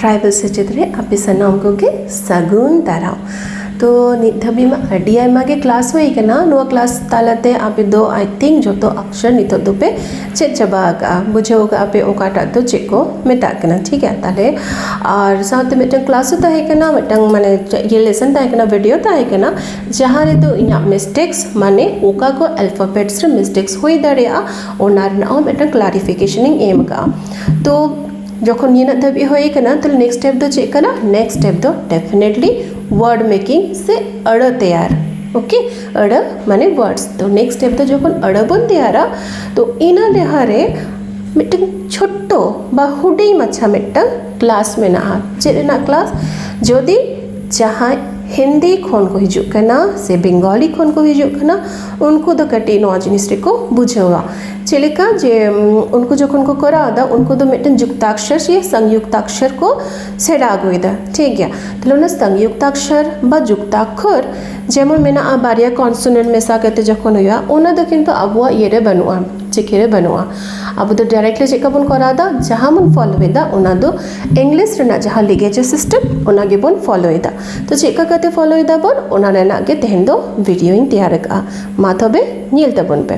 tribal ᱥᱮᱪᱮᱫ ᱨᱮ ᱟᱯᱮ ᱥᱟᱱᱟᱢ ᱠᱚᱜᱮ ᱥᱟᱹᱜᱩᱱ ᱫᱟᱨᱟᱢ ᱛᱚ ᱱᱤᱛ ᱫᱷᱟᱹᱵᱤᱡ ᱢᱟ ᱟᱹᱰᱤ ᱟᱭᱢᱟ ᱜᱮ ᱠᱞᱟᱥ ᱦᱩᱭ ᱠᱟᱱᱟ ᱱᱚᱣᱟ ᱠᱞᱟᱥ ᱛᱟᱞᱟᱛᱮ ᱟᱯᱮ ᱫᱚ ᱟᱭ ᱛᱷᱤᱝᱠ ᱡᱚᱛᱚ ᱚᱯᱥᱮᱱ ᱱᱤᱛᱚᱜ ᱫᱚᱯᱮ ᱪᱮᱫ ᱪᱟᱵᱟ ᱟᱠᱟᱫᱼᱟ ᱵᱩᱡᱷᱟᱹᱣ ᱠᱟᱜᱼᱟ ᱯᱮ ᱚᱠᱟᱴᱟᱜ ᱫᱚ ᱪᱮᱫ ᱠᱚ ᱢᱮᱛᱟᱜ ᱠᱟᱱᱟ ᱴᱷᱤᱠ ᱜᱮᱭᱟ ᱛᱟᱦᱚᱞᱮ ᱟᱨ ᱥᱟᱶᱛᱮ ᱢᱤᱫᱴᱟᱝ ᱠᱞᱟᱥ ᱦᱚᱸ ᱛᱟᱦᱮᱸ ᱠᱟᱱᱟ ᱢᱤᱫᱴᱟᱝ ᱢᱟᱱᱮ ᱤᱭᱟᱹ ᱞᱮᱥᱚᱱ ᱛᱟᱦᱮᱸ ᱠᱟᱱᱟ ᱵᱷᱤᱰᱤᱭᱳ ᱛᱟᱦᱮᱸ ᱠᱟᱱᱟ ᱡᱟᱦᱟᱸ ᱨᱮᱫᱚ ᱤᱧᱟᱹᱜ ᱢᱤᱥᱴᱮᱠᱥ ᱢᱟᱱᱮ ᱚᱠᱟ ᱠᱚ ᱟᱞᱯᱷᱟᱵᱮᱴᱥ ᱨᱮ ᱢᱤᱥᱴᱮᱠᱥ ᱦᱩᱭ ᱫᱟᱲᱮᱭᱟᱜᱼᱟ ᱚᱱᱟ ᱨᱮᱱᱟᱜ ᱦᱚᱸ ᱢᱤᱫᱴᱟᱝ ᱠᱞᱟᱨᱤᱯᱷᱤᱠᱮᱥᱚᱱ ᱤᱧ ᱮᱢ ᱠᱟᱜᱼᱟ ᱛᱚ ᱡᱚᱠᱷᱚᱱ ᱱᱤᱱᱟᱹᱜ ᱫᱷᱟᱹᱵᱤᱡ ᱦᱩᱭ ᱠᱟᱱᱟ ᱛᱟᱦᱚᱞᱮ ᱱᱮᱠᱥᱴ ᱥᱴᱮᱯ ᱫᱚ ᱪᱮᱫ ᱠᱟᱱᱟ ᱱᱮᱠᱥᱴ ᱥᱴᱮᱯ ᱫᱚ ᱰᱮᱯᱷᱤᱱᱮᱴᱞᱤ ᱳᱣᱟᱨᱰ ᱢᱮᱠᱤᱝ ᱥᱮ ᱟᱹᱲᱟᱹ ᱛᱮᱭᱟᱨ ᱳᱠᱮ ᱟᱹᱲᱟᱹ ᱢᱟᱱᱮ ᱳᱣᱟᱨᱰᱥ ᱛᱚ ᱱᱮᱠᱥᱴ ᱥᱴᱮᱯ ᱫᱚ ᱡᱚᱠᱷᱚᱱ ᱟᱹᱲᱟᱹ ᱵᱚᱱ ᱛᱮᱭᱟᱨᱟ ᱛᱚ ᱤᱱᱟᱹ ᱞᱟᱦᱟᱨᱮ ᱢᱤᱫᱴᱮᱱ ᱪᱷᱳᱴᱴᱳ ᱵᱟ ᱦᱩᱰᱤᱧ ᱢᱟᱪᱷᱟ ᱢᱤᱫᱴᱟᱝ ᱠᱞᱟᱥ ᱢᱮᱱᱟᱜᱼᱟ ᱪᱮᱫ ᱨᱮᱱᱟᱜ ᱠᱞᱟᱥ ᱡᱩᱫᱤ ᱡᱟᱦᱟᱸᱭ ᱦᱤᱱᱫᱤ ᱠᱷᱚᱱ ᱠᱚ ᱦᱤᱡᱩᱜ ᱠᱟᱱᱟ ᱥᱮ ᱵᱮᱝᱜᱚᱞᱤ ᱠᱷᱚᱱ ᱠᱚ ᱦᱤᱡᱩᱜ ᱠᱟᱱᱟ ᱩᱱᱠᱩ ᱫᱚ ᱠᱟᱹᱴᱤᱡ ᱱᱚᱣᱟ ᱡᱤᱱᱤᱥ ᱨᱮᱠᱚ ᱵᱩᱡᱷᱟᱹᱣᱟ ᱪᱮᱫ ᱞᱮᱠᱟ ᱡᱮ ᱩᱱᱠᱩ ᱡᱚᱠᱷᱚᱱ ᱠᱚ ᱠᱚᱨᱟᱣ ᱮᱫᱟ ᱩᱱᱠᱩ ᱫᱚ ᱢᱤᱫᱴᱮᱱ ᱡᱩᱠᱛᱟᱠᱥᱚᱨ ᱥᱮ ᱥᱚᱝᱡᱩᱠᱛᱟᱠᱥᱚᱨ ᱠᱚ ᱥᱮᱬᱟ ᱟᱹᱜᱩᱭᱮᱫᱟ ᱴᱷᱤᱠ ᱜᱮᱭᱟ ᱛᱟᱦᱚᱞᱮ ᱚᱱᱟ ᱥᱚᱝᱡᱩᱠᱛᱟᱠᱥᱚᱨ ᱵᱟ ᱡᱩᱠᱛᱟᱠᱠᱷᱚᱨ ᱡᱮᱢᱚᱱ ᱢᱮᱱᱟᱜᱼᱟ ᱵᱟᱨᱭᱟ ᱠᱚᱱᱥᱚᱱᱮᱱᱴ ᱢᱮᱥᱟ ᱠᱟᱛᱮ ᱡᱚᱠᱷᱚᱱ ᱦᱩᱭᱩᱜᱼᱟ ᱚᱱᱟ ᱫᱚ ᱠᱤᱱᱛᱩ ᱟᱵᱚᱣᱟᱜ ᱤᱭᱟᱹ ᱨᱮ ᱵᱟᱹᱱᱩᱜᱼᱟ ᱪᱤᱠᱤ ᱨᱮ ᱵᱟᱹᱱᱩᱜᱼᱟ ᱟᱵᱚ ᱫᱚ ᱰᱟᱭᱨᱮᱠᱴᱞᱤ ᱪᱮᱫ ᱞᱮᱠᱟ ᱵᱚᱱ ᱠᱚᱨᱟᱣ ᱮᱫᱟ ᱡᱟᱦᱟᱸ ᱵᱚᱱ ᱯᱷᱳᱞᱳᱭᱮᱫᱟ ᱚᱱᱟ ᱫᱚ ᱤᱝᱞᱤᱥ ᱨᱮᱱᱟᱜ ᱡᱟᱦᱟᱸ ᱞᱤᱜᱮᱪᱟᱨ ᱥᱤᱥᱴᱮᱢ ᱚᱱᱟ ᱜᱮᱵᱚᱱ ᱯᱷᱳᱞᱳᱭᱮᱫᱟ ᱛᱚ ᱪᱮᱫ ᱞᱮᱠᱟ ᱠᱟᱛᱮ ᱯᱷᱳᱞᱳᱭ ᱫᱟᱵᱚᱱ ᱚᱱᱟ ᱨᱮᱱᱟᱜ ᱜᱮ ᱛᱮᱦᱮᱧ ᱫᱚ ᱵᱷᱤᱰᱤᱭᱳᱧ ᱛᱮᱭᱟᱨ ᱟᱠᱟᱫᱼᱟ ᱢᱟ ᱛᱚᱵᱮ ᱧᱮᱞ ᱛᱟᱵᱚᱱ ᱯᱮ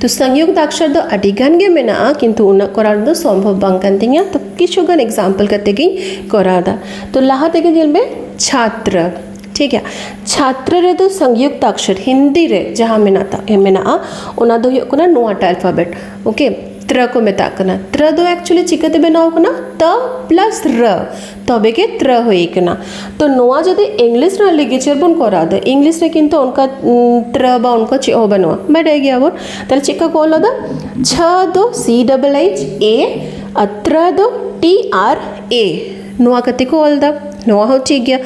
ᱛᱚ ᱥᱚᱝᱭᱩᱠ ᱫᱟᱠᱥᱟᱨ ᱫᱚ ᱟᱹᱰᱤ ᱜᱟᱱ ᱜᱮ ᱢᱮᱱᱟᱜᱼᱟ ᱠᱤᱱᱛᱩ ᱩᱱᱟᱹᱜ ᱠᱚᱨᱟᱣ ᱫᱚ ᱥᱚᱢᱵᱷᱚᱵ ᱵᱟᱝ ᱠᱟᱱ ᱛᱤᱧᱟᱹ ᱛᱚ ᱠᱤᱪᱷᱩ ᱜᱟᱱ ᱮᱠᱡᱟᱢᱯᱮᱞ ᱠᱟᱛᱮ ᱜᱤᱧ ᱠᱚᱨᱟᱣ ᱮᱫᱟ ᱛᱚ ᱞᱟᱦᱟ ᱛᱮᱜᱮ ᱧᱮᱞ ᱢᱮ ᱪᱷᱟᱛᱨᱚ ᱴᱷᱤᱠ ᱜᱮᱭᱟ ᱪᱷᱟᱛᱨᱚ ᱨᱮᱫᱚ ᱥᱚᱝᱭᱩᱠ ᱫᱟᱠᱥᱟᱨ ᱦᱤᱱᱫᱤ ᱨᱮ ᱡᱟᱦᱟᱸ ᱢᱮᱱᱟᱜ ᱢᱮᱱᱟᱜᱼᱟ ᱚᱱᱟ ᱫᱚ ᱦᱩᱭᱩᱜ ᱠᱟᱱᱟ ᱱᱚᱣᱟ ᱴᱟᱜ ᱟᱞᱯᱷᱟᱵᱮᱴ ᱳᱠᱮ ᱛᱨᱚ ᱠᱚ ᱢᱮᱛᱟᱜ ᱠᱟᱱᱟ ᱛᱨᱚ ᱫᱚ ᱮᱠᱪᱩᱭᱮᱞᱤ ᱪᱤᱠᱟᱹᱛᱮ ᱵᱮᱱᱟᱣ ᱠᱟᱱᱟ ᱛᱚ ᱯᱞᱟᱥ ᱨᱚ ᱛᱚᱵᱮ ᱜᱮ ᱛᱨᱚ ᱦᱩᱭ ᱠᱟᱱᱟ ᱛᱚ ᱱᱚᱣᱟ ᱡᱩᱫᱤ ᱤᱝᱞᱤᱥ ᱨᱮᱱᱟᱜ ᱞᱤᱜᱮᱪᱟᱨ ᱵᱚᱱ ᱠᱚᱨᱟᱣ ᱮᱫᱟ ᱤᱝᱞᱤᱥ ᱨᱮ ᱠᱤᱱᱛᱩ ᱚᱱᱠᱟ ᱛᱨᱚ ᱵᱟ ᱚᱱᱠᱟ ᱪᱮᱫ ᱦᱚᱸ ᱵᱟᱹᱱᱩᱜᱼᱟ ᱵᱟᱰᱟᱭ ᱜᱮᱭᱟ ᱵᱚᱱ ᱛᱟᱦᱚᱞᱮ ᱪᱮᱫ ᱞᱮᱠᱟ ᱠᱚ ᱚᱞ ᱟᱫᱟ ᱪᱷ ᱫᱚ ᱥᱤ ᱰᱚᱵᱚᱞ ᱮᱭᱤᱪ ᱮ ᱟᱨ ᱛᱨᱚ ᱫᱚ ᱴᱤ ᱟᱨ ᱮ ᱱᱚᱣᱟ ᱠᱟᱛᱮ ᱠᱚ ᱚᱞ ᱮᱫᱟ ᱱᱚᱣᱟ ᱦᱚᱸ ᱴᱷᱤᱠ ᱜᱮᱭᱟ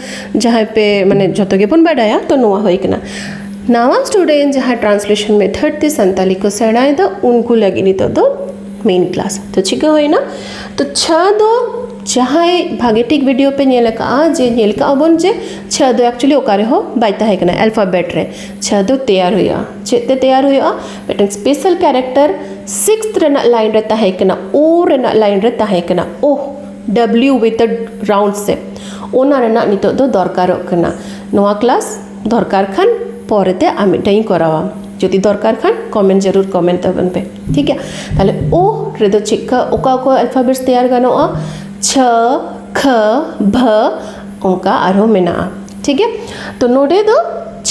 ᱡᱟᱦᱟᱸᱭ ᱯᱮ ᱢᱟᱱᱮ ᱡᱚᱛᱚ ᱜᱮᱵᱚᱱ ᱵᱟᱰᱟᱭᱟ ᱛᱚ ᱱᱚᱣᱟ ᱦᱩᱭ ᱠᱟᱱᱟ ᱱᱟᱣᱟ ᱥᱴᱩᱰᱮᱱᱴ ᱡᱟᱦᱟᱸ ᱴᱨᱟᱱᱥᱞᱮᱥᱚᱱ ᱢᱮᱛᱷᱚᱰ ᱛᱮ ᱥᱟᱱᱛᱟᱞᱤ ᱠᱚ ᱥᱮᱬᱟᱭᱮᱫᱟ ᱩᱱᱠᱩ ᱞᱟᱹᱜᱤᱫ ᱱᱤᱛᱚᱜ ᱫᱚ ᱢᱮᱱ ᱠᱞᱟᱥ ᱛᱚ ᱪᱤᱠᱟᱹ ᱦᱩᱭᱱᱟ ᱛᱚ ᱪᱷ ᱫᱚ ᱡᱟᱦᱟᱸᱭ ᱵᱷᱟᱜᱮ ᱴᱷᱤᱠ ᱵᱷᱤᱰᱤᱭᱳ ᱯᱮ ᱧᱮᱞ ᱟᱠᱟᱫᱼᱟ ᱡᱮ ᱧᱮᱞ ᱠᱟᱜᱼᱟ ᱵᱚᱱ ᱡᱮ ᱪᱷᱟ ᱫᱚ ᱮᱠᱪᱩᱭᱮᱞᱤ ᱚᱠᱟ ᱨᱮᱦᱚᱸ ᱵᱟᱭ ᱛᱟᱦᱮᱸ ᱠᱟᱱᱟ ᱮᱞᱯᱷᱟᱵᱮᱴ ᱨᱮ ᱪᱷᱟ ᱫᱚ ᱛᱮᱭᱟᱨ ᱦᱩᱭᱩᱜᱼᱟ ᱪᱮᱫ ᱛᱮ ᱛᱮᱭᱟᱨ ᱦᱩᱭᱩᱜᱼᱟ ᱢᱤᱫᱴᱮᱱ ᱥᱯᱮᱥᱟᱞ ᱠᱮᱨᱮᱠᱴᱟᱨ ᱥᱤᱠᱥᱛᱷ ᱨᱮᱱᱟᱜ ᱞᱟᱭᱤᱱ ᱨᱮ ᱛᱟᱦᱮᱸ ᱠᱟᱱᱟ ᱳ ᱨᱮᱱᱟᱜ ᱞᱟᱭᱤᱱ ᱨᱮ ᱛᱟᱦᱮᱸ ᱠᱟᱱᱟ O W with a round shape ᱚᱱᱟ ᱨᱮᱱᱟᱜ ᱱᱤᱛᱚᱜ ᱫᱚ ᱫᱚᱨᱠᱟᱨᱚᱜ ᱠᱟᱱᱟ ᱱᱚᱣᱟ ᱠᱞᱟᱥ ᱫᱚᱨᱠᱟᱨ ᱠᱷᱟᱱ ᱯᱚᱨᱮᱛᱮ ᱟᱨ ᱢᱤᱫᱴᱟᱝ ᱤᱧ ᱠᱚᱨᱟᱣᱟ ᱡᱩᱫᱤ ᱫᱚᱨᱠᱟᱨ ᱠᱷᱟᱱ ᱠᱚᱢᱮᱱᱴ ᱡᱟᱹᱨᱩᱲ ᱠᱚᱢᱮᱱᱴ ᱛᱟᱵᱚᱱ ᱯᱮ ᱴᱷᱤᱠ ᱜᱮᱭᱟ ᱛᱟᱦᱞᱮ ᱳ ᱨᱮᱫᱚ ᱪᱮᱫᱠᱟ ᱚᱠᱟ ᱚᱠᱟ ᱟᱞᱯᱷᱟᱵᱮᱴᱥ ᱛᱮᱭᱟᱨ ᱜᱟᱱᱚᱜᱼᱟ ᱪᱷᱟ ᱠᱷᱟ ᱵᱷᱟ ᱚᱱᱠᱟ ᱟᱨᱦᱚᱸ ᱢᱮᱱᱟᱜᱼᱟ ᱴᱷᱤᱠ ᱜᱮᱭᱟ ᱛᱚ ᱱᱚᱰᱮ ᱫᱚ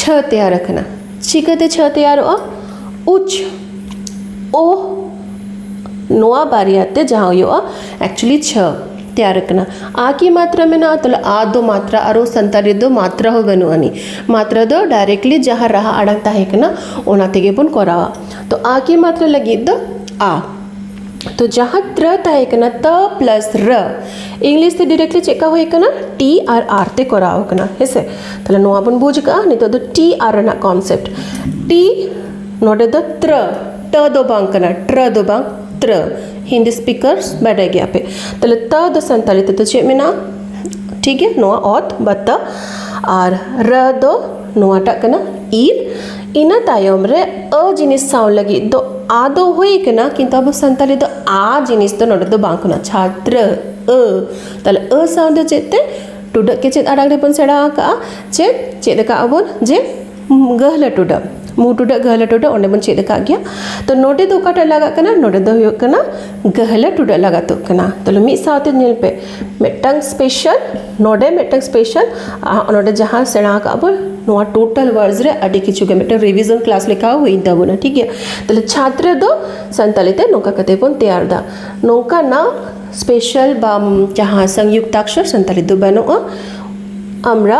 ᱪᱷᱟ ᱛᱮᱭᱟᱨ ᱟᱠᱟᱱᱟ ᱪᱤᱠᱟᱹᱛᱮ ᱪᱷᱟ ᱛᱮᱭᱟᱨᱚᱜᱼᱟ ᱩᱪ ᱳ ᱱᱚᱣᱟ ᱵᱟᱨᱭᱟ ᱛᱮ ᱡᱟᱦᱟᱸ ᱦᱩᱭᱩᱜᱼᱟ ᱮᱠᱪᱩᱭᱮᱞᱤ ᱪᱷᱟ ᱛᱮᱭᱟᱨ ᱟᱠᱟᱱᱟ ᱟ ᱠᱤ ᱢᱟᱛᱨᱟ ᱢᱮᱱᱟᱜᱼᱟ ᱛᱟᱦᱞᱮ ᱟ ᱫᱚ ᱢᱟᱛᱨᱟ ᱟᱨᱚ ᱥᱟᱱᱛᱟᱲᱤ ᱫᱚ ᱢᱟᱛᱨᱟ ᱦᱚᱸ ᱵᱟᱹᱱᱩᱜ ᱟᱹᱱᱤᱡ ᱢᱟᱛᱨᱟ ᱫᱚ ᱰᱟᱭᱨᱮᱠᱴᱞᱤ ᱡᱟᱦᱟᱸ ᱨᱟᱦᱟ ᱟᱲᱟᱝ ᱛᱟᱦᱮᱸ ᱠᱟᱱᱟ ᱚᱱᱟ ᱛᱮᱜᱮ ᱵᱚᱱ ᱠᱚᱨᱟᱣᱟ ᱛᱚ ᱟ ᱠᱤ ᱢᱟᱛᱨᱟ ᱞᱟᱹᱜᱤᱫ ᱫᱚ ᱟ ᱛᱚ ᱡᱟᱦᱟᱸ ᱛᱨᱟ ᱛᱟᱦᱮᱸ ᱠᱟᱱᱟ ᱛᱟ ᱯᱞᱟᱥ ᱨ ᱤᱝᱞᱤᱥ ᱛᱮ ᱰᱤᱨᱮᱠᱴᱞᱤ ᱪᱮᱫ ᱠᱟ ᱦᱩᱭ ᱠᱟᱱᱟ ᱴᱤ ᱟᱨ ᱟᱨ ᱛᱮ ᱠᱚᱨᱟᱣ ᱠᱟᱱᱟ ᱦᱮᱸᱥᱮ ᱛᱟᱦᱚᱞᱮ ᱱᱚᱣᱟ ᱵᱚᱱ ᱵᱩᱡᱽ ᱠᱟᱜᱼᱟ ᱱᱤᱛᱚᱜ ᱫᱚ ᱴᱤ ᱟᱨ ᱨᱮᱱᱟᱜ ᱠᱚᱱᱥᱮᱯᱴ ᱴᱤ ᱱᱚᱰᱮ ᱫᱚ ᱛᱨᱟ ᱴᱟ ᱫᱚ ᱵᱟᱝ ᱠᱟᱱᱟ ᱴᱨᱟ ᱫᱚ ᱵᱟᱝ ᱛᱨᱟ ᱦᱤᱱᱫᱤ ᱥᱯᱤᱠᱟᱨᱥ ᱵᱟᱰᱟᱭ ᱜᱮᱭᱟ ᱯᱮ ᱛᱟᱦᱚᱞᱮ ᱛᱟ ᱫᱚ ᱥᱟᱱᱛᱟᱲᱤ ᱛᱮᱫᱚ ᱪᱮᱫ ᱢᱮᱱᱟᱜᱼᱟ ᱴᱷᱤᱠ ᱜᱮᱭᱟ ᱱᱚᱣᱟ ᱚᱛ ᱵᱟ ᱛᱟ ᱟᱨ ᱨ ᱫᱚ ᱱᱚᱣᱟᱴᱟᱜ ᱠᱟᱱᱟ ᱤᱨ ᱤᱱᱟᱹ ᱛᱟᱭᱚᱢ ᱨᱮ ᱟᱹ ᱡᱤᱱᱤᱥ ᱥᱟᱶ ᱞᱟᱹᱜᱤᱫ ᱫᱚ ᱟ ᱫᱚ ᱦᱩᱭ ᱠᱟᱱᱟ ᱠᱤᱱᱛᱩ ᱟᱵᱚ ᱥᱟᱱᱛᱟᱲᱤ ᱫᱚ ᱟ ᱡᱤᱱᱤᱥ ᱫᱚ ᱱᱚᱰᱮ ᱫᱚ ᱵᱟᱝ ᱠᱟᱱᱟ ᱪᱷᱟᱛᱨᱚ ᱟᱹ ᱛᱟᱦᱞᱮ ᱟᱹ ᱥᱟᱶ ᱫᱚ ᱪᱮᱫ ᱛᱮ ᱴᱩᱰᱟᱹᱜ ᱜᱮ ᱪᱮᱫ ᱟᱲᱟᱝ ᱨᱮᱵᱚᱱ ᱥᱮᱬᱟ ᱟᱠᱟᱜᱼᱟ ᱪᱮᱫ ᱪᱮᱫ ᱟᱠᱟᱜ ᱟᱵᱚᱱ ᱡᱮ ᱜᱟᱹᱦᱞᱟᱹ ᱴᱩᱰᱟᱹᱜ ᱢᱩ ᱴᱩᱰᱟᱹᱜ ᱜᱟᱹᱦᱞᱟᱹ ᱴᱩᱰᱟᱹᱜ ᱚᱸᱰᱮ ᱵᱚᱱ ᱪᱮᱫ ᱟᱠᱟᱫ ᱜᱮᱭᱟ ᱛᱚ ᱱᱚᱰᱮ ᱫᱚ ᱚᱠᱟᱴᱟᱜ ᱞᱟᱜᱟᱜ ᱠᱟᱱᱟ ᱱᱚᱰᱮ ᱫᱚ ᱦᱩᱭᱩᱜ ᱠᱟᱱᱟ ᱜᱟᱹᱦᱞᱟᱹ ᱴᱩᱰᱟᱹᱜ ᱞᱟᱜᱟᱛᱚᱜ ᱠᱟᱱᱟ ᱛᱟᱦᱚᱞᱮ ᱢᱤᱫ ᱥᱟᱶᱛᱮ ᱧᱮᱞ ᱯᱮ ᱢᱤᱫᱴᱟᱝ ᱥᱯᱮᱥᱟᱞ ᱱᱚᱰᱮ ᱢᱤᱫᱴᱟᱝ ᱥᱯᱮᱥᱟᱞ ᱱᱚᱰᱮ ᱡᱟᱦᱟᱸ ᱥᱮᱬᱟ ᱠᱟᱜᱼᱟ ᱵᱚᱱ ᱱᱚᱣᱟ ᱴᱳᱴᱟᱞ ᱚᱣᱟᱨᱰᱥ ᱨᱮ ᱟᱹᱰᱤ ᱠᱤᱪᱷᱩ ᱜᱮ ᱢᱤᱫᱴᱟᱝ ᱨᱤᱵᱷᱤᱡᱚᱱ ᱠᱞᱟᱥ ᱞᱮᱠᱟ ᱦᱚᱸ ᱦᱩᱭᱮᱱ ᱛᱟᱵᱚᱱᱟ ᱴᱷᱤᱠ ᱜᱮᱭᱟ ᱛᱟᱦᱚᱞᱮ ᱪᱷᱟᱛᱨᱚ ᱫᱚ ᱥᱟᱱᱛᱟᱲᱤ ᱛᱮ ᱱᱚᱝᱠᱟ ᱠᱟᱛᱮ ᱵᱚᱱ ᱛᱮᱭᱟᱨᱫᱟ ᱱᱚᱝᱠᱟᱱᱟᱜ ᱥᱯᱮᱥᱟᱞ ᱵᱟ ᱡᱟᱦᱟᱸ ᱥᱚᱝᱡᱩᱠᱛᱟᱠᱥᱚᱨ ᱥᱟᱱᱛᱟᱲᱤ ᱛᱮᱫᱚ ᱵᱟᱹᱱᱩᱜᱼᱟ ᱟᱢᱨᱟ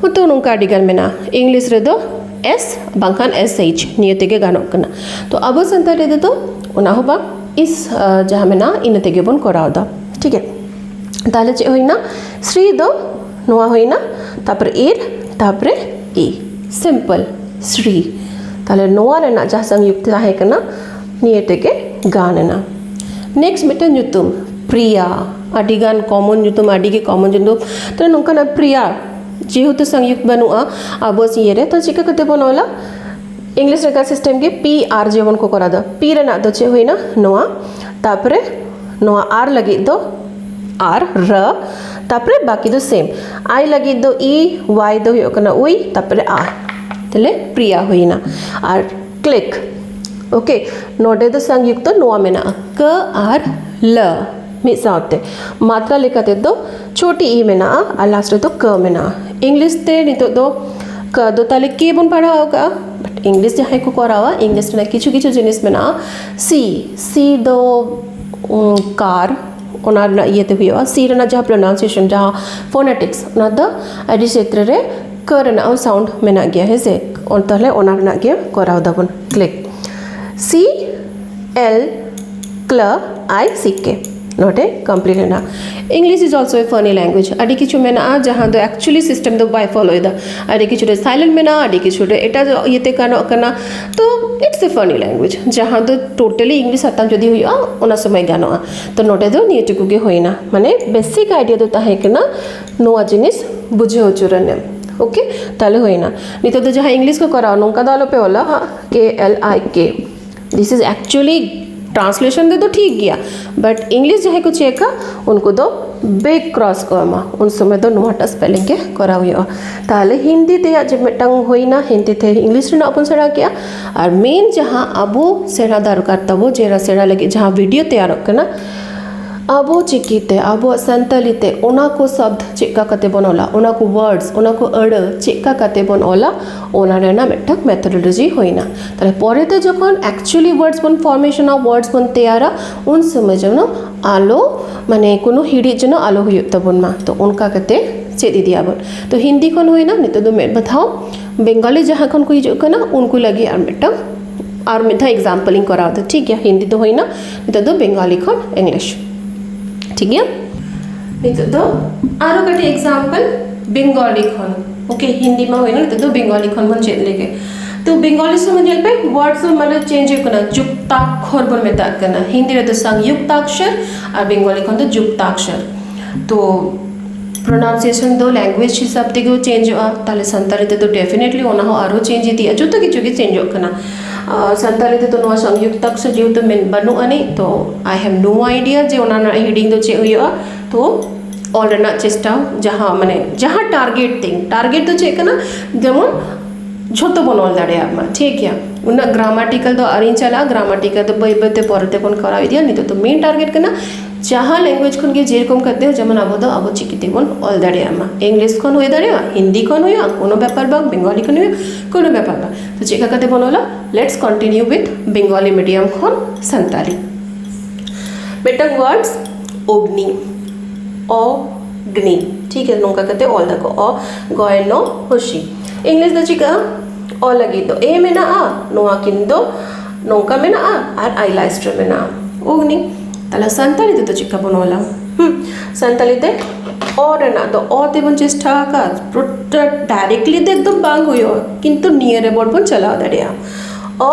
ᱦᱚᱭᱛᱳ ᱱᱚᱝᱠᱟ ᱟᱹᱰᱤᱜᱟᱱ ᱢᱮᱱᱟᱜᱼᱟ ᱤᱝᱞᱤᱥ ᱨᱮᱫᱚ ᱮᱥ ᱵᱟᱝᱠᱷᱟᱱ ᱮᱥ ᱮᱭᱤᱪ ᱱᱤᱭᱟᱹ ᱛᱮᱜᱮ ᱜᱟᱱᱚᱜ ᱠᱟᱱᱟ ᱛᱚ ᱟᱵᱚ ᱥᱟᱱᱛᱟᱲᱤ ᱨᱮᱫᱚ ᱚᱱᱟ ᱦᱚᱸ ᱵᱟᱝ ᱤᱥ ᱡᱟᱦᱟᱸ ᱢᱮᱱᱟᱜᱼᱟ ᱤᱱᱟᱹ ᱛᱮᱜᱮ ᱵᱚᱱ ᱠᱚᱨᱟᱣᱫᱟ ᱴᱷᱤᱠ ᱜᱮᱭᱟ ᱛᱟᱦᱚᱞᱮ ᱪᱮᱫ ᱦᱩᱭᱱᱟ ᱥᱨᱤ ᱫᱚ ᱱᱚᱣᱟ ᱦᱩᱭᱱᱟ ᱛᱟᱨᱯᱚᱨᱮ ᱤᱨ ᱛᱟᱨᱯᱚᱨᱮ ᱤ ᱥᱤᱢᱯᱮᱞ ᱥᱨᱤ ᱛᱟᱦᱚᱞᱮ ᱱᱚᱣᱟ ᱨᱮᱱᱟᱜ ᱡᱟᱦᱟᱸ ᱥᱚᱝᱭᱩᱠᱛ ᱛᱟᱦᱮᱸ ᱠᱟᱱᱟ ᱱᱤᱭᱟᱹ ᱛᱮᱜᱮ ᱜᱟᱱ ᱮᱱᱟ ᱱᱮᱠᱥᱴ ᱢᱤᱫᱴᱮᱱ ᱧᱩᱛᱩᱢ ᱯᱨᱤᱭᱟ ᱟᱹᱰᱤᱜᱟᱱ ᱠᱚᱢᱚᱱ ᱧᱩᱛᱩᱢ ᱟᱹᱰᱤᱜᱮ ᱠᱚᱢᱚᱱ ᱧᱩᱛᱩᱢ ᱛᱚ ᱱᱚᱝᱠᱟᱱᱟᱜ ᱯᱨᱤᱭᱟ ᱡᱮᱦᱮᱛᱩ ᱥᱚᱝᱭᱩᱠᱛ ᱵᱟᱹᱱᱩᱜᱼᱟ ᱟᱵᱚ ᱤᱭᱟᱹᱨᱮ ᱛᱚ ᱪᱤᱠᱟᱹ ᱠᱟᱛᱮ ᱵᱚᱱ ᱚᱞᱟ ᱤᱝᱞᱤᱥ ᱞᱮᱠᱟ ᱥᱤᱥᱴᱮᱢ ᱜᱮ ᱯᱤ ᱟᱨ ᱡᱮᱢᱚᱱ ᱠᱚ ᱠᱚᱨᱟᱣᱫᱟ ᱯᱤ ᱨᱮᱱᱟᱜ ᱫᱚ ᱪᱮᱫ ᱦᱩᱭᱱᱟ ᱱᱚᱣᱟ ᱛᱟᱨᱯᱚᱨᱮ ᱱᱚᱣᱟ ᱟᱨ ᱞᱟᱹᱜᱤᱫ ᱫᱚ ᱟᱨ ᱨ ᱛᱟᱨᱯᱚᱨᱮ ᱵᱟᱹᱠᱤ ᱫᱚ ᱥᱮᱢ ᱟᱭ ᱞᱟᱹᱜᱤᱫ ᱫᱚ ᱤ ᱳᱣᱟᱭ ᱫᱚ ᱦᱩᱭᱩᱜ ᱠᱟᱱᱟ ᱩᱭ ᱛᱟᱨᱯᱚᱨᱮ ᱟ ᱛᱟᱦᱞᱮ ᱯᱨᱤᱭᱟ ᱦᱩᱭᱱᱟ ᱟᱨ ᱠᱞᱤᱠ ᱳᱠᱮ ᱱᱚᱰᱮ ᱫᱚ ᱥᱚᱝᱭᱩᱠᱛᱚ ᱱᱚᱣᱟ ᱢᱮᱱᱟᱜᱼᱟ ᱠᱟᱹ ᱟᱨ ᱞᱟᱹ ᱢᱤᱫ ᱥᱟᱶᱛᱮ ᱢᱟᱛᱨᱟ ᱞᱮᱠᱟ ᱛᱮᱫᱚ ᱪᱷᱚᱴᱤ ᱤ ᱢᱮᱱᱟᱜᱼᱟ ᱟᱨ ᱞᱟᱥᱴ ᱨᱮᱫᱚ ᱠᱟᱹ ᱢᱮᱱᱟᱜᱼᱟ ᱤᱝᱞᱤᱥ ᱛᱮ ᱱᱤᱛᱚᱜ ᱫᱚ ᱠᱟᱹ ᱫᱚ ᱛᱟᱦᱚᱞᱮ ᱠᱮ ᱵᱚᱱ ᱯᱟᱲᱦᱟᱣ ᱟᱠᱟᱫᱼᱟ ᱵᱟᱴ ᱤᱝᱞᱤᱥ ᱡᱟᱦᱟᱸᱭ ᱠᱚ ᱠᱚᱨᱟᱣᱟ ᱤᱝᱞᱤᱥ ᱨᱮᱱᱟᱜ ᱠᱤᱪᱷᱩ ᱠᱤᱪᱷᱩ ᱡᱤᱱᱤᱥ ᱢᱮᱱᱟᱜᱼᱟ ᱥᱤ ᱥᱤ ᱫᱚ ᱠᱟᱨ ᱚᱱᱟ ᱨᱮᱱᱟᱜ ᱤᱭᱟᱹᱛᱮ ᱦᱩᱭᱩᱜᱼᱟ ᱥᱤ ᱨᱮᱱᱟᱜ ᱡᱟᱦᱟᱸ ᱯᱨᱚᱱᱟᱣᱩᱱᱥᱤᱭᱮᱥᱚᱱ ᱡᱟᱦᱟᱸ ᱯᱷᱳᱱᱮᱴᱤᱠᱥ ᱚᱱᱟ ᱫᱚ ᱟᱹᱰᱤ ᱪᱮᱛᱨᱮ ᱨᱮ ᱠᱟᱹ ᱨᱮᱱᱟᱜ ᱦᱚᱸ ᱥᱟᱣᱩᱱᱰ ᱢᱮᱱᱟᱜ ᱜᱮᱭᱟ ᱦᱮᱸᱥᱮ ᱛᱟᱦᱚᱞᱮ ᱚᱱᱟ ᱨᱮᱱᱟᱜ ᱜᱮ ᱠᱚᱨᱟᱣ ᱫᱟᱵᱚᱱ click C L club I C K ᱱᱚᱰᱮ ᱠᱚᱢᱯᱞᱤᱴ ᱮᱱᱟ English is also A ᱯᱷᱟᱱᱤ language ᱟᱹᱰᱤ ᱠᱤᱪᱷᱩ ᱢᱮᱱᱟᱜᱼᱟ ᱡᱟᱦᱟᱸ ᱫᱚ ᱮᱠᱪᱩᱭᱮᱞᱤ ᱥᱤᱥᱴᱮᱢ ᱫᱚ ᱵᱟᱭ ᱯᱷᱳᱞᱳᱭᱮᱫᱟ ᱟᱹᱰᱤ ᱠᱤᱪᱷᱩ ᱨᱮ ᱥᱟᱭᱞᱮᱱᱴ ᱢᱮᱱᱟᱜᱼᱟ ᱟᱹᱰᱤ ᱠᱤᱪᱷᱩ ᱨᱮ ᱮᱴᱟᱜ ᱤᱭᱟᱹᱛᱮ ᱜᱟᱱᱚᱜ ᱠᱟᱱᱟ ᱛᱚ ᱤᱴᱥ ᱮ ᱯᱷᱟᱱᱤ ᱞᱮᱝᱜᱩᱭᱮᱡᱽ ᱡᱟᱦᱟᱸ ᱫᱚ ᱴᱳᱴᱟᱞᱤ ᱤᱝᱞᱤᱥ ᱦᱟᱛᱟᱣ ᱡᱩᱫᱤ ᱦᱩᱭᱩᱜᱼᱟ ᱚᱱᱟ ᱥᱚᱢᱚᱭ ᱜᱟᱱᱚᱜᱼᱟ ᱛᱚ ᱱᱚᱰᱮ ᱫᱚ ᱱᱤᱭᱟᱹ ᱴᱩᱠᱩ ᱜᱮ ᱦᱩᱭᱱᱟ ᱢᱟᱱᱮ ᱵᱮᱥᱤᱠ ᱟᱭᱰᱤᱭᱟ ᱫᱚ ᱛᱟᱦᱮᱸ ᱠᱟᱱᱟ ᱱᱚᱣᱟ ᱡᱤᱱᱤᱥ ᱵᱩᱡᱷᱟᱹᱣ ᱦᱚᱪᱚ ᱨᱮᱱᱟᱜ ᱳᱠᱮ ᱛᱟᱦᱞᱮ ᱦᱩᱭᱱᱟ ᱱᱤᱛᱚᱜ ᱫᱚ ᱡᱟᱦᱟᱸ ᱤᱝᱞᱤᱥ ᱠᱚ ᱠᱚᱨᱟᱣᱟ ᱱᱚᱝᱠᱟ ᱫᱚ ᱟᱞᱚᱯᱮ ᱚᱞᱟ ᱦᱟᱸᱜ ᱠᱮ ᱮᱞ ᱟᱭ ᱠᱮ ᱫᱤᱥ ᱤᱡᱽ ᱮᱠᱪᱩᱭᱮᱞᱤ ᱴᱨᱟᱱᱥᱞᱮᱥᱚᱱ ᱛᱮᱫᱚ ᱴᱷᱤᱠ ᱜᱮᱭᱟ ᱵᱟᱴ ᱤᱝᱞᱤᱥ ᱡᱟᱦᱟᱸᱭ ᱠᱚ ᱪᱮᱠᱟ ᱩᱱᱠᱩ ᱫᱚ ᱵᱮᱠ ᱠᱨᱚᱥ ᱠᱚ ᱮᱢᱟ ᱩᱱ ᱥᱚᱢᱚᱭ ᱫᱚ ᱱᱚᱣᱟᱴᱟᱜ ᱥᱯᱮᱞᱤᱝ ᱜᱮ ᱠᱚᱨᱟᱣ ᱦᱩᱭᱩᱜᱼᱟ ᱛᱟᱦᱚᱞᱮ ᱦᱤᱱᱫᱤ ᱛᱮᱭᱟᱜ ᱡᱮ ᱢᱤᱫᱴᱟᱝ ᱦᱩᱭᱱᱟ ᱦᱤᱱᱫᱤ ᱛᱮ ᱤᱝᱞᱤᱥ ᱨᱮᱱᱟᱜ ᱵᱚᱱ ᱥᱮᱬᱟ ᱠᱮᱜᱼᱟ ᱟᱨ ᱢᱮᱱ ᱡᱟᱦᱟᱸ ᱟᱵᱚ ᱥᱮᱬᱟ ᱫᱚᱨᱠᱟᱨ ᱛᱟᱵᱚ ᱡᱮ ᱥᱮᱬᱟ ᱞᱟᱹᱜᱤᱫ ᱡᱟᱦᱟᱸ ᱵᱷᱤᱰᱭᱳ ᱛᱮᱭᱟᱨᱚᱜ ᱠᱟᱱᱟ ᱟᱵᱚ ᱪᱤᱠᱤᱛᱮ ᱟᱵᱚᱣᱟᱜ ᱥᱟᱱᱛᱟᱲᱤ ᱛᱮ ᱚᱱᱟ ᱠᱚ ᱥᱚᱵᱫᱚ ᱪᱮᱫ ᱞᱮᱠᱟ ᱠᱟᱛᱮᱜ ᱵᱚᱱ ᱚᱞᱟ ᱚᱱᱟ ᱠᱚ ᱚᱣᱟᱨᱰᱥ ᱚᱱᱟ ᱠᱚ ᱟᱹᱲᱟᱹ ᱪᱮᱫ ᱞᱮᱠᱟ ᱠᱟᱛᱮᱜ ᱵᱚᱱ ᱚᱞᱟ ᱚᱱᱟ ᱨᱮᱱᱟᱜ ᱢᱤᱫᱴᱟᱝ ᱢᱮᱛᱷᱳᱰᱳᱞᱚᱡᱤ ᱦᱩᱭᱱᱟ ᱛᱟᱦᱞᱮ ᱯᱚᱨᱮᱛᱮ ᱡᱚᱠᱷᱚᱱ ᱮᱠᱪᱩᱭᱮᱞᱤ ᱣᱟᱨᱰᱥ ᱵᱚᱱ ᱯᱷᱚᱨᱢᱮᱥᱚᱱ ᱚᱯᱷ ᱣᱟᱨᱰᱥ ᱵᱚᱱ ᱛᱮᱭᱟᱨᱟ ᱩᱱ ᱥᱚᱢᱚᱭ ᱡᱮᱱᱚ ᱟᱞᱚ ᱢᱟᱱᱮ ᱠᱳᱱᱳ ᱦᱤᱲᱤᱡ ᱡᱮᱱᱚ ᱟᱞᱚ ᱦᱩᱭᱩᱜ ᱛᱟᱵᱚᱱ ᱢᱟ ᱛᱚ ᱚᱱᱠᱟ ᱠᱟᱛᱮ ᱪᱮᱫ ᱤᱫᱤᱭᱟ ᱵᱚᱱ ᱛᱚ ᱦᱤᱱᱫᱤ ᱠᱷᱚᱱ ᱦᱩᱭᱱᱟ ᱱᱤᱛᱚᱜ ᱫᱚ ᱢᱤᱫ ᱫᱷᱟᱣ ᱵᱮᱝᱜᱚᱞᱤ ᱡᱟᱦᱟᱸ ᱠᱷᱚᱱ ᱠᱚ ᱦᱤᱡᱩᱜ ᱠᱟᱱᱟ ᱩᱱᱠᱩ ᱞᱟᱹᱜᱤᱫ ᱟᱨ ᱢᱤᱫᱴᱟᱝ ᱟᱨ ᱢᱤᱫ ᱫᱷᱟᱣ ᱮᱠᱡᱟᱢᱯᱮᱞ ᱤᱧ ᱠᱚᱨᱟᱣ ᱮᱫᱟ ᱴᱷᱤᱠ ᱜᱮᱭᱟ ᱦᱤᱱᱫᱤ ᱫᱚ ᱦᱩᱭᱱᱟ ᱱᱤᱛᱚᱜ ᱫᱚ ᱵᱮᱝᱜᱚᱞᱤ ᱠᱷᱚᱱ ᱤᱝᱞᱤᱥ ᱴᱷᱤᱠ ᱜᱮᱭᱟ ᱱᱤᱛᱚᱜ ᱫᱚ ᱟᱨᱚ ᱠᱟᱹᱴᱤᱡ ᱮᱠᱡᱟᱢᱯᱮᱞ ᱵᱮᱝᱜᱚᱞᱤ ᱠᱷᱚᱱ ᱳᱠᱮ ᱦᱤᱱᱫᱤ ᱢᱟ ᱦᱩᱭᱱᱟ ᱱᱤᱛᱚᱜ ᱫᱚ ᱵᱮᱝᱜᱚᱞᱤ ᱠᱷᱚᱱ ᱵᱚᱱ ᱪᱮᱫ ᱞᱮᱜᱮ ᱛᱚ ᱵᱮᱝᱜᱚᱞᱤ ᱥᱚᱢᱚᱭ ᱧᱮᱞ ᱯᱮ ᱣᱟᱨᱰ ᱫᱚ ᱢᱟᱱᱮ ᱪᱮᱧᱡᱽ ᱦᱩᱭᱩᱜ ᱠᱟᱱᱟ ᱡᱩᱠᱛᱟᱠᱠᱷᱚᱨ ᱵᱚᱱ ᱢᱮᱛᱟᱜ ᱠᱟᱱᱟ ᱦᱤᱱᱫᱤ ᱨᱮᱫᱚ ᱥᱚᱝᱭᱩᱠᱛᱟᱠᱠᱷᱚᱨ ᱟᱨ ᱵᱮᱝᱜᱚᱞᱤ ᱠᱷᱚᱱ ᱫᱚ ᱡᱩᱠᱛᱟᱠᱠᱷᱚᱨ ᱛᱚ ᱯᱨᱚᱱᱟᱣᱩᱱᱥᱤᱭᱮᱥᱚᱱ ᱫᱚ ᱞᱮᱝᱜᱩᱭᱮᱡᱽ ᱦᱤᱥᱟᱹᱵ ᱛᱮᱜᱮ ᱪᱮᱧᱡᱚᱜᱼᱟ ᱛᱟᱦᱚᱞᱮ ᱥᱟᱱᱛᱟᱲᱤ ᱛᱮᱫᱚ ᱰᱮᱯᱷᱤᱱᱮᱴᱞᱤ ᱚᱱᱟ ᱦᱚᱸ ᱟᱨᱦᱚᱸ ᱪᱮᱧᱡᱽ ᱤᱫᱤᱜᱼᱟ ᱡᱚᱛᱚ ᱠᱤᱪᱷᱩ ᱜᱮ ᱪᱮᱧᱡᱚᱜ ᱠᱟᱱᱟ ᱥᱟᱱᱛᱟᱲᱤ ᱛᱮᱫᱚ ᱱᱚᱣᱟ ᱥᱚᱝᱭᱩᱠᱛᱟᱠᱠᱷᱚᱨ ᱡᱮᱦᱮᱛᱩ ᱵᱟᱹᱱᱩᱜ ᱟᱹᱱᱤᱡ ᱛᱚ ᱟᱭ ᱦᱮᱵᱽ ᱱᱳ ᱟᱭᱰᱤᱭᱟ ᱡᱮ ᱚᱱᱟ ᱨᱮᱱᱟᱜ ᱦᱤᱰᱤᱝ ᱫᱚ ᱪᱮᱫ ᱦᱩᱭᱩᱜᱼᱟ ᱛᱚ ᱚᱞ ᱨᱮᱱᱟᱜ ᱪᱮᱥᱴᱟ ᱡᱟᱦᱟᱸ ᱢᱟᱱᱮ ᱡᱟᱦᱟᱸ ᱴᱟᱨᱜᱮᱴ ᱛᱤᱧ ᱴᱟᱨᱜᱮᱴ ᱫᱚ ᱪᱮᱫ ᱠᱟᱱᱟ ᱡᱮᱢᱚᱱ ᱡᱷᱚᱛᱚ ᱵᱚᱱ ᱚᱞ ᱫᱟᱲᱮᱭᱟᱜ ᱢᱟ ᱴᱷᱤᱠ ᱜᱮᱭᱟ ᱩᱱᱟᱹᱜ ᱜᱨᱟᱢᱟᱴᱤᱠᱮᱞ ᱫᱚ ᱟᱹᱣᱨᱤᱧ ᱪᱟᱞᱟᱜᱼᱟ ᱜᱨᱟᱢᱟᱴᱤᱠᱮᱞ ᱫᱚ ᱵᱟᱹᱭ ᱵᱟᱹᱭ ᱛᱮ ᱯᱚᱨᱮ ᱛᱮᱵᱚᱱ ᱠᱚᱨᱟᱣ ᱤᱫᱤᱭᱟ ᱱᱤᱛᱚᱜ ᱫᱚ ᱢᱮᱱ ᱴᱟᱨᱜᱮᱴ ᱠᱟᱱᱟ ᱡᱟᱦᱟᱸ ᱞᱮᱝᱜᱩᱭᱮᱡᱽ ᱠᱷᱚᱱᱜᱮ ᱡᱮᱨᱚᱠᱚᱢ ᱠᱟᱛᱮ ᱡᱮᱢᱚᱱ ᱟᱵᱚ ᱫᱚ ᱟᱵᱚ ᱪᱤᱠᱤ ᱛᱮᱵᱚᱱ ᱚᱞ ᱫᱟᱲᱮᱭᱟᱜ ᱢᱟ ᱤᱝᱞᱤᱥ ᱠᱷᱚᱱ ᱦᱩᱭ ᱫᱟᱲᱮᱭᱟᱜᱼᱟ ᱦᱤᱱᱫᱤ ᱠᱷᱚᱱ ᱦᱩᱭᱩᱜᱼᱟ ᱠᱳᱱᱳ ᱵᱮᱯᱟᱨ ᱵᱟᱝ ᱵᱮᱝᱜᱚᱞᱤ ᱠᱷᱚᱱ ᱦᱩᱭᱩᱜᱼᱟ ᱠᱳᱱᱳ ᱵᱮᱯᱟᱨ ᱵᱟᱝ ᱛᱚ ᱪᱮᱫ ᱞᱮᱠᱟ ᱠᱟᱛᱮ ᱵᱚᱱ ᱚᱞᱟ let's continue with Bengali medium ᱠᱷᱚᱱ ᱥᱟᱱᱛᱟᱲᱤ ᱢᱤᱫᱴᱟᱝ ᱳᱣᱟᱨᱰᱥ ᱚᱜᱽᱱᱤ ᱚ ᱜᱽᱱᱤ ᱴᱷᱤᱠ ᱜᱮᱭᱟ ᱱᱚᱝᱠᱟ ᱠᱟᱛᱮ ᱚᱞ ᱟᱠᱚ ᱚ ᱜᱚᱭᱱᱚ ᱦᱚᱥᱤ ᱤᱝᱞᱤᱥ ᱫᱚ ᱪᱤᱠᱟᱹᱜᱼᱟ ᱚ ᱞᱟᱹᱜᱤᱫ ᱫᱚ ᱮ ᱢᱮᱱᱟᱜᱼᱟ ᱱᱚᱣᱟ ᱠᱤᱱ ᱫᱚ ᱱᱚᱝᱠᱟ ᱢᱮᱱᱟᱜᱼᱟ ᱟᱨ ᱟᱭ ᱞᱟᱥᱴ ᱨᱮ ᱢᱮᱱᱟᱜᱼᱟ ᱚᱜᱽᱱᱤ ᱛᱟᱦᱚᱞᱮ ᱥᱟᱱᱛᱟᱲᱤ ᱛᱮᱫᱚ ᱪᱤᱠᱟ ᱵᱚᱱ ᱚᱞᱟ ᱥᱟᱱᱛᱟᱲᱤ ᱛᱮ ᱚ ᱨᱮᱱᱟᱜ ᱫᱚ ᱚ ᱛᱮᱵᱚᱱ ᱪᱮᱥᱴᱟ ᱟᱠᱟᱫ ᱯᱩᱨᱟᱹ ᱰᱟᱭᱨᱮᱠᱴᱞᱤ ᱫᱚ ᱮᱠᱫᱚᱢ ᱵᱟᱝ ᱦᱩᱭᱩᱜᱼᱟ ᱠᱤᱱᱛᱩ ᱱᱤᱭᱟᱹ ᱨᱮ ᱵᱚᱱ ᱪᱟᱞᱟᱣ ᱫᱟᱲᱮᱭᱟᱜᱼᱟ ᱚ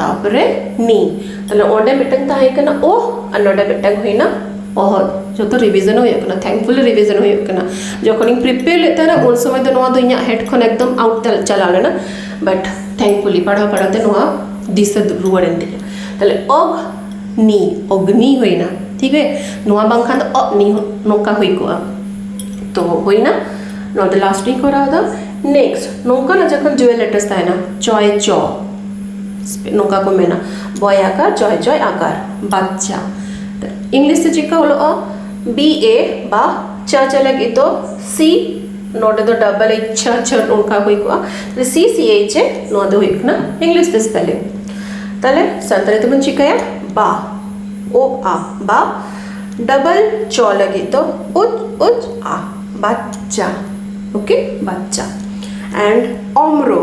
ᱛᱟᱯᱚᱨᱮ ᱱᱤ ᱛᱟᱦᱞᱮ ᱚᱸᱰᱮ ᱢᱤᱫᱴᱟᱝ ᱛᱟᱦᱮᱸ ᱠᱟᱱᱟ ᱳ ᱟᱨ ᱱᱚᱸᱰᱮ ᱢᱤᱫᱴᱟᱝ ᱦᱩᱭᱱᱟ ᱚᱦᱚᱨ ᱡᱚᱛᱚ ᱨᱤᱵᱷᱤᱡᱚᱱ ᱦᱩᱭᱩᱜ ᱠᱟᱱᱟ ᱛᱷᱮᱝᱠᱯᱷᱩᱞᱤ ᱨᱤᱵᱷᱤᱡᱚᱱ ᱦᱩᱭᱩᱜ ᱠᱟᱱᱟ ᱡᱚᱠᱷᱚᱱᱤᱧ ᱯᱨᱤᱯᱮᱭᱟᱨ ᱞᱮᱫ ᱛᱟᱦᱮᱱᱟ ᱩᱱ ᱥᱚᱢᱚᱭ ᱫᱚ ᱱᱚᱣᱟ ᱫᱚ ᱤᱧᱟᱹᱜ ᱦᱮᱰ ᱠᱷᱚᱱ ᱮᱠᱫᱚᱢ ᱟᱣᱩᱴ ᱪᱟᱞᱟᱣ ᱞᱮᱱᱟ ᱵᱟᱴ ᱛᱷᱮᱝᱠᱯᱷᱩᱞᱤ ᱯᱟᱲᱦᱟᱣ ᱯᱟᱲᱦᱟᱣ ᱛᱮ ᱱᱚᱣᱟ ᱫᱤᱥᱟᱹ ᱨᱩᱣᱟᱹᱲ ᱮᱱ ᱛᱤᱧᱟ ᱛᱟᱦᱞᱮ ᱚᱜᱽ ᱱᱤ ᱚᱜᱽᱱᱤ ᱦᱩᱭᱱᱟ ᱴᱷᱤᱠ ᱜᱮ ᱱᱚᱣᱟ ᱵᱟᱝᱠᱷᱟᱱ ᱫᱚ ᱚᱜᱽ ᱱᱤ ᱱᱚᱝᱠᱟ ᱦᱩᱭ ᱠᱚᱜᱼᱟ ᱛᱚ ᱦᱩᱭᱱᱟ ᱱᱚᱣᱟ ᱫᱚ ᱞᱟᱥᱴ ᱤᱧ ᱠᱚᱨᱟᱣᱫᱟ ᱱᱮᱠᱥᱴ ᱱᱚᱝᱠᱟᱱᱟᱜ ᱡᱚᱠᱷᱚᱱ ᱡᱩᱭᱮᱞ ᱞᱮᱴᱟᱨᱥ ᱛᱟᱦᱮᱱᱟ ᱪᱚᱭ ᱪᱚ ᱱᱚᱝᱠᱟ ᱠᱚ ᱢᱮᱱᱟ ᱵᱚᱭ ᱟᱠᱟᱨ ᱡᱚᱭ ᱡᱚᱭ ᱟᱠᱟᱨ ᱵᱟᱪᱪᱟ ᱤᱝᱞᱤᱥ ᱛᱮ ᱪᱮᱫᱠᱟ ᱚᱞᱚᱜᱼᱟ ᱵᱤ ᱮ ᱵᱟ ᱪᱟ ᱪᱟ ᱞᱟᱹᱜᱤᱫ ᱫᱚ ᱥᱤ ᱱᱚᱰᱮ ᱫᱚ ᱰᱟᱵᱚᱞ ᱮᱪ ᱪᱷᱟ ᱪᱷᱟ ᱚᱱᱠᱟ ᱦᱩᱭ ᱠᱚᱜᱼᱟ ᱥᱤ ᱥᱤ ᱮᱪ ᱮ ᱱᱚᱣᱟ ᱫᱚ ᱦᱩᱭᱩᱜ ᱠᱟᱱᱟ ᱤᱝᱞᱤᱥ ᱛᱮ ᱥᱯᱮᱞᱤᱝ ᱛᱟᱦᱞᱮ ᱥᱟᱱᱛᱟᱲᱤ ᱛᱮᱵᱚᱱ ᱪᱤᱠᱟᱹᱭᱟ ᱵᱟ ᱳ ᱟ ᱵᱟ ᱰᱟᱵᱚᱞ ᱪᱚ ᱞᱟᱹᱜᱤᱫ ᱫᱚ ᱩᱪ ᱩᱪ ᱟ ᱵᱟᱪᱪᱟ ᱳᱠᱮ ᱵᱟᱪᱪᱟ ᱮᱱᱰ ᱚᱢᱨᱳ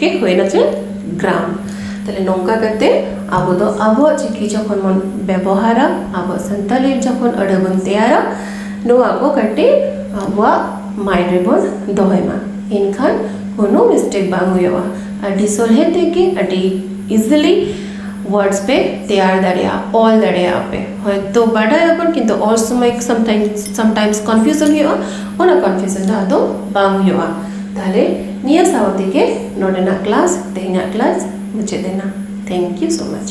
ᱜᱮ ᱦᱩᱭᱱᱟ ᱪᱮᱫ ᱜᱨᱟᱢ ᱛᱟᱦᱞᱮ ᱱᱚᱝᱠᱟ ᱠᱟᱛᱮ ᱟᱵᱚ ᱫᱚ ᱟᱵᱚᱣᱟᱜ ᱪᱤᱠᱤ ᱡᱚᱠᱷᱚᱱ ᱵᱚᱱ ᱵᱮᱵᱚᱦᱟᱨᱟ ᱟᱵᱚᱣᱟᱜ ᱥᱟᱱᱛᱟᱲᱤ ᱡᱚᱠᱷᱚᱱ ᱟᱹᱲᱟᱹ ᱵᱚᱱ ᱛᱮᱭᱟᱨᱟ ᱱᱚᱣᱟ ᱠᱚ ᱠᱟᱹᱴᱤᱡ ᱟᱵᱚᱣᱟᱜ ᱢᱟᱭᱤᱱᱰ ᱨᱮᱵᱚᱱ ᱫᱚᱦᱚᱭ ᱢᱟ ᱮᱱᱠᱷᱟᱱ ᱠᱳᱱᱳ ᱢᱤᱥᱴᱮᱠ ᱵᱟᱝ ᱦᱩᱭᱩᱜᱼᱟ ᱟᱹᱰᱤ ᱥᱚᱦᱞᱮ ᱛᱮᱜᱮ ᱟᱹᱰᱤ ᱤᱡᱤᱞᱤ ᱣᱟᱨᱰᱥ ᱯᱮ ᱛᱮᱭᱟᱨ ᱫᱟᱲᱮᱭᱟᱜᱼᱟ ᱚᱞ ᱫᱟᱲᱮᱭᱟᱜᱼᱟ ᱯᱮ ᱦᱚᱭᱛᱳ ᱵᱟᱰᱟᱭᱟᱵᱚᱱ ᱠᱤᱱᱛᱩ ᱚᱞ ᱥᱚᱢᱚᱭ ᱥᱟᱢᱴᱟᱭᱤᱢᱥ ᱥᱟᱢᱴᱟᱭᱤᱢᱥ ᱠᱚᱱᱯᱷᱤᱭᱩᱡᱚᱱ ᱦᱩᱭᱩᱜᱼᱟ ᱚᱱᱟ ᱠᱚᱱᱯᱷᱤᱭᱩᱡᱚᱱ ᱫᱚ ᱟᱫᱚ ᱵᱟᱝ ᱦᱩᱭᱩᱜᱼᱟ ᱛᱟᱦᱚᱞᱮ ᱱᱤᱭᱟᱹ ᱥᱟᱶ ᱛᱮᱜᱮ ᱱᱚᱰᱮᱱᱟᱜ ᱠᱞᱟᱥ ᱛᱮᱦᱮᱧᱟᱜ ᱠᱞᱟᱥ ᱢᱩᱪᱟᱹᱫ ᱮᱱᱟ ᱛᱷᱮᱝᱠ ᱤᱭᱩ ᱥᱳ ᱢᱟᱪ